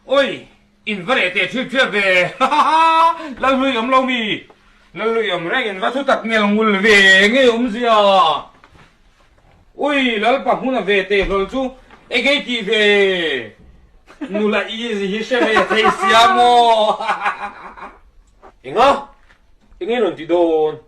Oi! In va reh teh ṭhip ṭhiap ve! Hahahaa! Lalhlui awm lo mi lalhlui awm reng in va thu tak nghel nghul ve ngei awm zia! Ui! Lalpa hmun a ve teh hlawl chu egei tih ve! Nula easy hi hre ve thei sia maw? Hahahaa! Enga? Engin rawn ti dawn?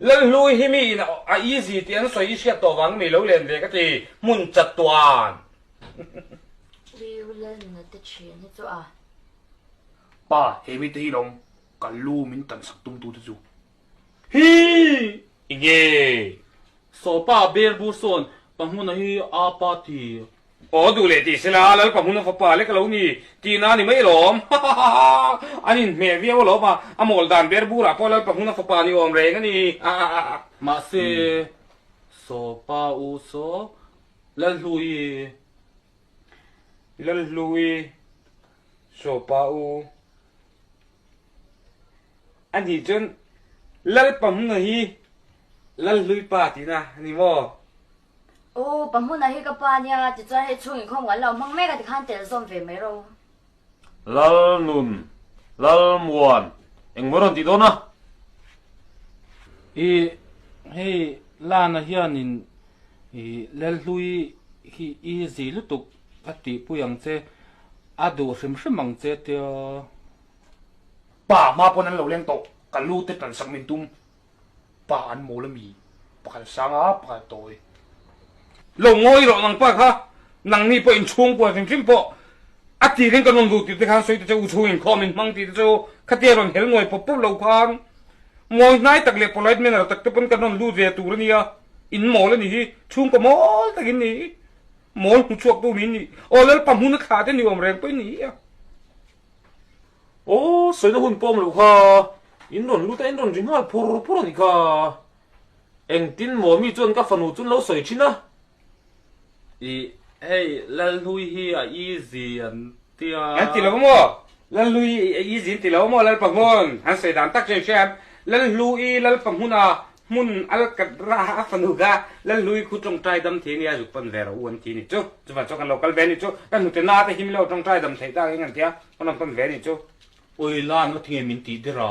Lalhlui hi mi in a easy tih an sawi i hriat tawh vang mi lo len ve ka ti hmun chat tuan. Tleu lal nuna te ṭhian hi chu a. Pa he mite hi lawm kal lu min kan sak tum tu te chu hi i nge. Sawpa ber bu sawn ka hmuna hi a pa ti Aw duh leh tih sela Lalpa hmuna fapa lek lo ni tih na ni mai alawm hahahahaa an in hmeh viau alawm a a mawl dan ber burah pawh Lalpa hmuna fapa ni awm reng a ni hahahaa. Mahse sawpa u saw Lalhlui i Lalhlui sawpa u a nih chuan Lalpa hmuna hi Lalhlui pa tihna a ni maw? U pa hmuna hi ka pa nia tichuan hei chhung in khawmngal lo hmang mek a tikhan tel zawm ve mai ro. Lalnun, Lalmuan engmaw rawn tih dawn a. I hei lana hianin i Lalhlui hi i zih lutuk a tihpui ang che, a duh hrim hrim ang che tia. Pa hma pawn an lo leng tawh, ka lute tansak min tum. pa an mawl ami pakhat sang a pakhat tawi lo ngawi rawh nang pa kha nang mi pawh in chhung kual hrim hrim pawh a ti ring ka nun ru ti te khan sawi ta che u chhung in khaw min hmang ti te chu khatia rawn hel nuai pawp pawp lo khan mawi hnai tak leh polite manner tak te pawn ka nawn lut ve tur ania in mawl ani hi chhung ka mawl tak in ni mawl hmu chhuak tu min ni aw lal pa hmun a thla te ni awm reng pawh in ni a Aw sawina hun pawm lo kha, in rawn lut a in rawn ri nghal phur phur a ni kha. Engtin maw mi chuan ka fanu chu lo sawi thin a. I hei Lalhlui hi a easy an ti a. An ti lo maw? Lalhlui hi a easy an ti lo maw? Lalpa hmun han sawi dan tak chian hriat hian Lalhlui, Lalpa hmuna Hmun alkat ra a fanu kha Lalui khu tawngtai dam thei ania zuk pan ve ro u an ti a ni chu. Chuvah chuan kan lo kal ve a ni chu. Ka hnute na te him lo tawngtai dam thei tak eng an tia, kan rawn pan ve a ni chu. Ui lan va thinge min tih der a?